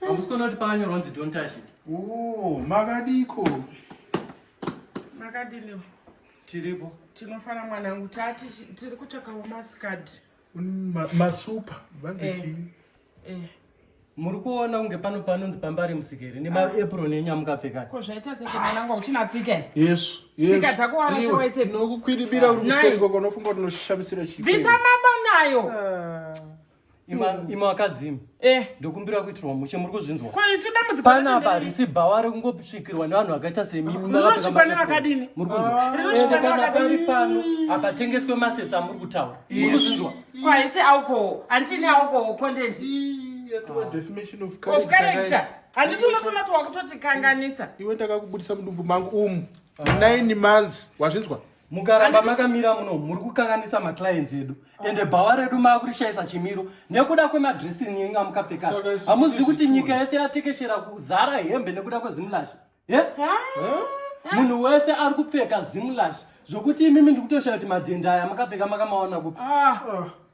Hamusi kuona kuti pakanyorwa kunzi don't touch it. Oh, makadiko. Makadini. Tiripo. Tinofana mwanangu tati tiri kutsvakawo maskad. Mm, masupa vanzi eh, chii? Eh. Muri kuona kunge pano panonzi pambari musikere nemaapron ah. enyu amukapfeka. Ko zvaita sei mwanangu uchina tsika here? Yesu. Yesu. Tsika dzako warasha waise. Nokukwidibira uri kuseri koko unofunga kuti unoshamisira chii? Bvisa mabanayo. Ah. imi vakadzi imi eh. ndokumbira kuitirwa mushe muri kuzvinzwa pana apa risi bhawa rekungotsvikirwa nevanhu vakaita semimurinosvikwa nevakadini muri kunzwaende ah. kana pari pano apatengeswe masesi amuri kutaura muri kuzvinzwa kwaisi alcohol andini alcohol content of character handiti unotonati wakutotikanganisa iwe ndakakubudisa mudumbu mangu umu ah. nine months wazvinzwa mukaramba makamira muno muri kukanganisa maclients edu ah. ende bhawa redu maakurishayisa chimiro nekuda kwemadressing inga mukapfeka hamuzivi kuti nyika yese yatekeshera kuzara hembe nekuda kwezimulash munhu wese ari kupfeka zimulash zvokuti imimi ndikutoshaya kuti madhenda aya makapfeka makamaona kupi ah. ah.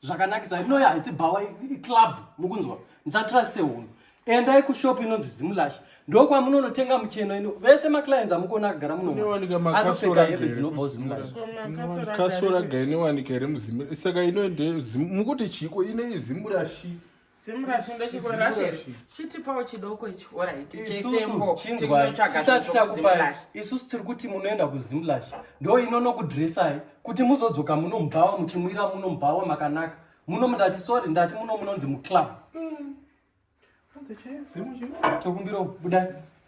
zvakanakisa inoyo haisi bhawa iclub mukunzwa musatrase hunhu endai kushop inonzi zimulash ndokwamunonotenga mucheno ino vese maclients amukona akagara munoanopfeka hembe dzinobvawo zimulashkasora ga inowanika here muzimsaka inoende mukuti chiiko inei zimulashi simurashi ndochiko rashe chitipawo chidoko icho oraitisati takupai isusu tiri kuti munoenda kuzimlash ndo inonokudresai kuti muzodzoka muno mubhawa muchimwira muno mubhawa makanaka muno mundati sori ndati muno munonzi muclub mm. tokumbira budai